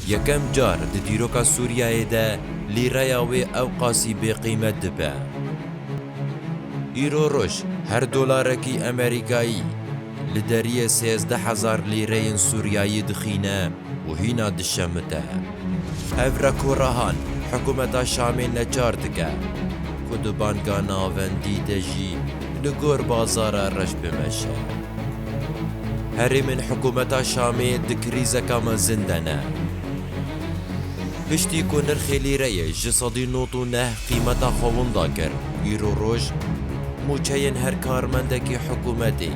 Yekem car di dîroka Sûriyeyê de lîreya wê ewqasî bêqîmet dibe. Îro roj her dolarekî Amerîkayî li deriyê sêzdeh hezar lîreyên Sûriyeyî dixîne û hîna dişemite. Ev rekorahan hikûmeta Şamê neçar dike ku di banga navendî de jî li gor bazara reş bimeşe. Herêmên hikûmeta Şamê di krîzeka mezin de ne. Piştî ku nirxê lîreyê ji sedî nod û neh qîmeta xwe winda kir, îro roj mûçeyên her karmendekî hikûmetê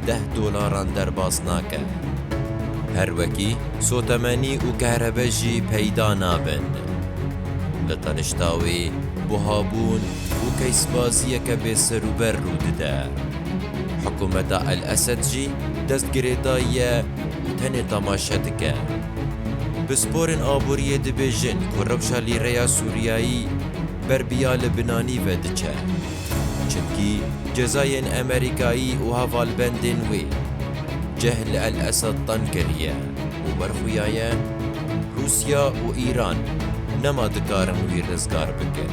deh dolaran derbas nake. Her wekî sotemenî û kehrebe jî peyda nabin. Li tenişta wê buhabûn û keysbaziyeke bêserûber rû dide. Hikûmeta El Esed jî dest girêdayiye û tenê temaşe dike. Pisporên aboriyê dibêjin ku rewşa lîreya Sûriyayî ber bi ya li binanî ve diçe. Çimkî cezayên Amerîkayî û hevalbendên wê ceh li El Esed teng kiriye û werxuyaye Rûsya û Îran nema dikarin wî rizgar bikin.